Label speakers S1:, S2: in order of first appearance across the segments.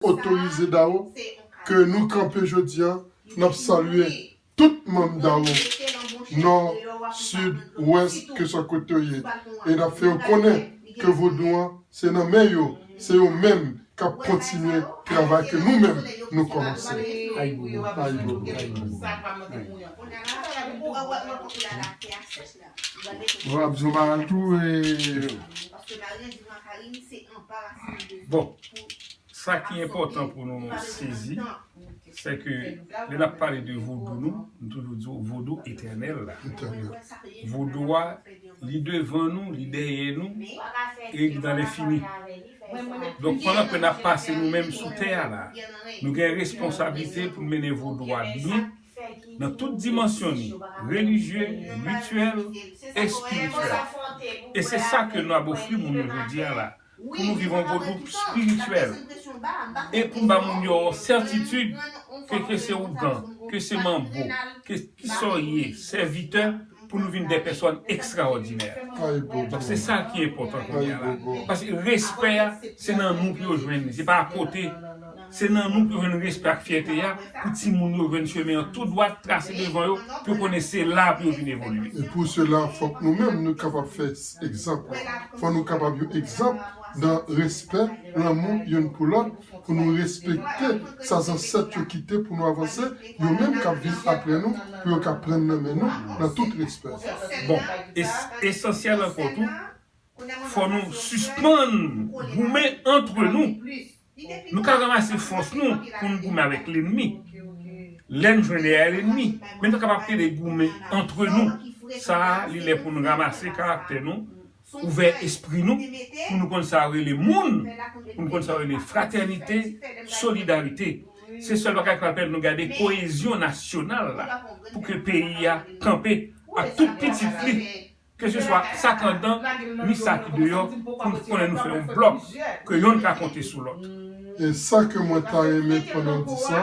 S1: otorize Dao ke nou kanpe jodi a nap salye tout manm Dao nò sid wès keswa kote yo ye e nap fè yo konnen ke vodou an se nan men yo se yo menm kap kontinye travay ke nou menm nou kòmanse ayibobo ayibobo ayibobo ayibobo.
S2: Wap zo mal tou e. Bon, sa ki enpòtan pou nou sezi, se ke lè nap pale de vodou nou, nou toujou di ou vodou etènèl la. Vodou a, li devan nou, li dèyè nou, e li nan lenfini. Donk pandan ke nap pase nou menm sou tè a la, nou gen responsabilite pou nou mennen vodou a byen, nan tout dimansyon li, relijye, rityèl, espirityèl. E se sa ke nou ap ofri moun yo jodi a la, pou nou viv yon Vodou spirityèl, e pou n ba moun yo yon sètitid ke ke se Ougan, ke se Manbo, ke kisa w ye, sèvitè, pou nou vin dè pèsòn ekstraòdinè. Donk se sa ki enpòtan kounye a la. Paske respè a, se nan nou pou yo jwenn li, se pa akote. Se nan nou pou yo jwenn respè ak fyète a, pou timoun yo jwenn chemen an tou dwat trase devan yo, pou yo konnen se la pou yo vin evolye. E pou sela, fòk
S1: nou menm nou kapab fè egzanp lan. Fòk nou kapab yon egzanp nan respè, lanmou youn pou lòt, pou nou respekte sa zansèt yo kite pou nou avanse, yo menm k ap vin apre nou, pou yo ka prann nan men nou nan tout respè. Bon,
S2: e esansyèl ankò tou, fòk nou sispann goumen antre nou. Nou ka ranmase fòs nou pou n goumen avèk lenmi. Lè n jwenn dèyè lenmi, men nou kapab ede goumen antre nou. Sa a, li lè pou n ranmase karaktè nou, ouvè espri nou, pou nou konn sa yo rele moun, pou nou konn sa yo rele fratènite, solidarite. Se sèl bagay k pral pèmèt nou gade koyezyon nasyonal la, pou ke peyi a kanpe ak tout pitit li. Ke se swa sa k anndan ni sa ki deyò pou n konnen nou fè yon blòk ke yonn ka konte sou lòt. E sa ke
S1: mwen ta renmen pandan w di sa,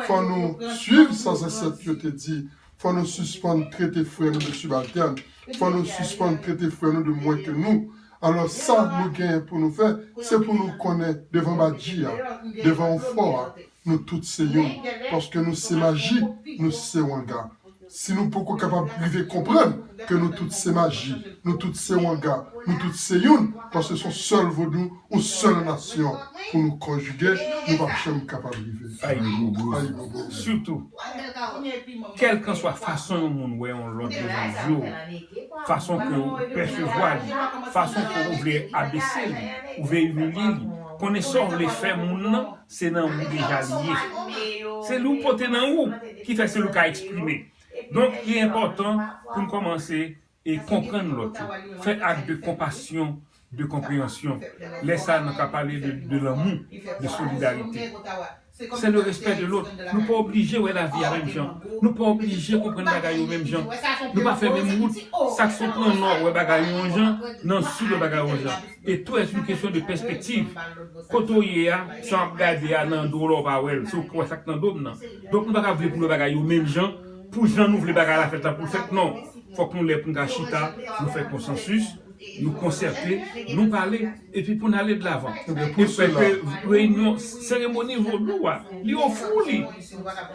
S1: fò nou swiv sa zansèt yo te di, fò nou sispann trete frè nou de sibaltèn, fò nou sispann trete frè nou de mwen ke nou. Alò sa nou genyen pou nou fè, se pou nou konnen devan badji a, devan ou fò a, nou tout se youn paske nou se maji nou se wanga si nou poko kapab rive konprann ke nou tout se maji nou tout se wanga nou tout se youn paske son sèl vodou on sèl nasyon pou nou konjige nou pap janm kapab rive ayibobo sitou
S2: kèlkanswa fason yon moun wè yon lòt devan zye w fason ke ou pèsevwa li fason ke ou vle abese li ou vle imilye li konnen sa w vle fè moun nan Se nan ou deja li ye. Se li ou pote nan ou ki fè se li ou ka eksprime. Donk li enpòtan pou n kòmanse e konprann lòt yo. Fè ak de konpasyon, de konpreyansyon. Lè sa nan ka pale de lanmou, de solidarite. Se le respè de lòt. Nou pa oblije wè lavi a menm jan. Nou pa oblije konprann bagay yo menm jan. Nou pa fè menm wout. Sak sot nan nò wè bagay yo yon jan, nan sid wè bagay yo yon jan. E tou es une question de perspective, kote w ye a, sa w ap gade a nan do w la w pa wè l, se w ki wè sa k nan do m nan. Donk nou pa ka vle pou nou wè bagay yo menm jan, pou jan nou vle bagay la fèt la pou l fèt non. Fòk nou lè pou n ka chita, nou fè konsansis, nou konsète, nou pale, epi pou n ale dlavan. E fè ke reyinyon, seremoni vodou a, li ofri w li.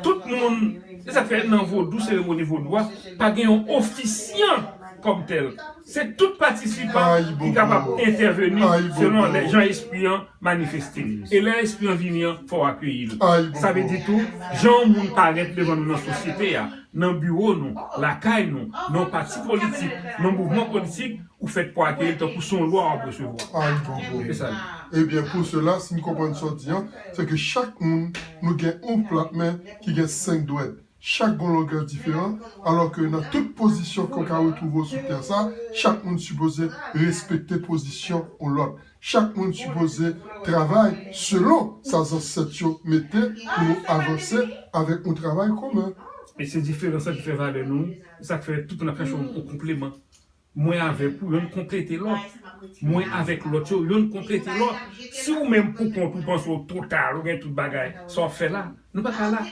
S2: Tout moun, se sa k fè nan vodou, seremoni vodou a, pa gen yon ofisyan kòm tèl. Se tout patisipan ki kapab entèveni selon lè jan espri an manifeste. E lè espri an vini an, fò w akeyi l. Sa vle di tou, jan yon moun parèt devan nou nan sosyete a, nan biwo nou, lakay nou, nan yon pati politik, nan yon mouvman politik, ou fèt pou akeyi l tankou se yon lwa w ap resevwa. Ayibobo!
S1: Ebyen pou sela, si m konprann sa w di an, se ke chak moun nou gen yon plat men ki gen senk dwèt. Chak gon longè diferan, alò ke nan tout pozisyon ke w ka retwouve w sou tè sa, chak moun sipoze respekte pozisyon on lòt. Chak moun sipoze travay selon sa zansèt yo mete pou nou avanse avèk on travay komen. E se diferans
S2: la ki fè valè nou, e sa k fè tout moun ap chache on konpleman Mwen avèk ou, yonn konplete lòt. Mwen avèk lòt yo, yonn konplete lòt. Si ou menm poukont ou panse ou total, ou gen tout bagay, sa w ap fè la? Nou pa ka la.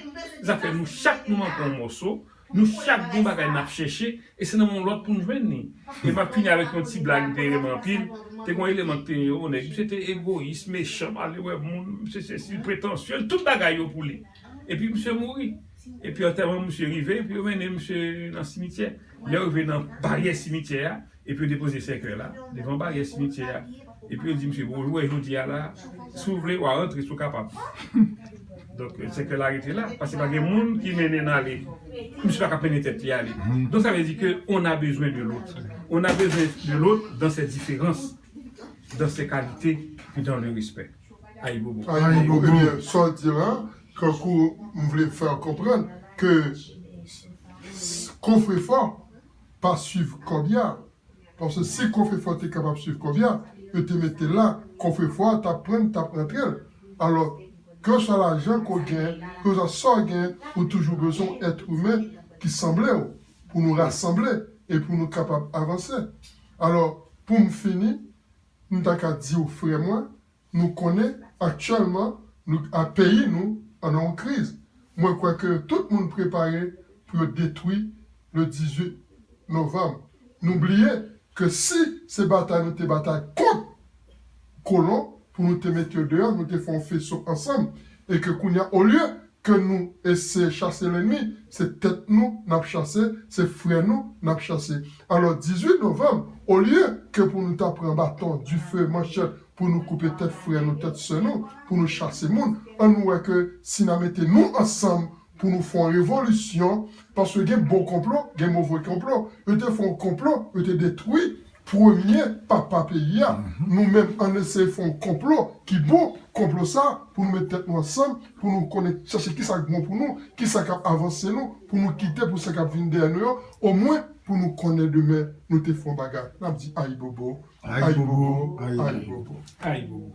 S2: Zafè nou chak nou manke yon mòso, nou chak gen yon bagay n ap chèche, e se nan men yon lòt pou n jwenn li. E m ap fini avèk yon ti blag m te renmen anpil, te gen yon eleman ki te yon nèg, misye te egoyis, mechan, malewè moun, misye sesi, l pretansye, l tout bagay yo pou li. Epi misye mouri. Epi antèman misye rive, epi yo mennen misye nan simityè. Lè yo rive nan baryè simityè a, epi yo depoze sèkèy la devan baryè simityè a. Epi yo di misye, bon, ou wè jodi a la, si w vle, w a rantre si w kapab. Donk, sèkèy la rete la, paske pa gen moun ki mennen n ale. Misye pa ka mennen tèt li ale. Donk sa vle di ke on a bezwen de lòt. On a bezwen de lòt dan sè diferans, dan sè kalite, e dan le respè. Ayibobo ebyen sa
S1: w di la kankou m vle fè w konprann ke kofrefò pa swiv kòbya paske si kofrefò te kapab swiv kòbya yo te mete l la kofrefò a t ap pran l t ap rantre l alò kèlkeswa lajan ke w gen kèlkeswa sa w gen ou toujou bezwen yon èt imen ki sanble w pou nou rasanble e pou nou kapab avanse alò pou m fini M ta ka di w frè mwen, nou konnen aktyèlman nou a peyi nou an nan yon kriz. Mwen kwè ke tout moun prepare pou yo detwi le 18 novanm. Nou bliye ke si se batay nou te batay kont kolon pou nou te mete yo deyò, nou te fè yon feso ansanm e ke kounye a olye ke nou eseye chase lennmi, se tèt nou n ap chase, se frè nou n ap chase. Alò 18 novanm, olye ke pou nou ta pran baton, dife, manchèt pou nou koupe tèt frè nou, tèt sè nou, pou nou chase moun, an nou wè ke si n a mete nou ansanm pou nou fè yon revolisyon, paske gen bon konplo, gen move konplo, yo te fè yon konplo, yo te detwi. Premye papa peyi a nou menm ann eseye fè yon konplo ki bon konplo sa pou nou met tèt nou ansanm pou nou konnen chèche kisa k bon pou nou kisa k ap avanse nou pou nou kite pou sa k ap vin dèyè nou yo omwen pou nou konnen demen nou te fè yon bagay n ap di ayibobo ayibobo ayibobo
S2: ayibobo.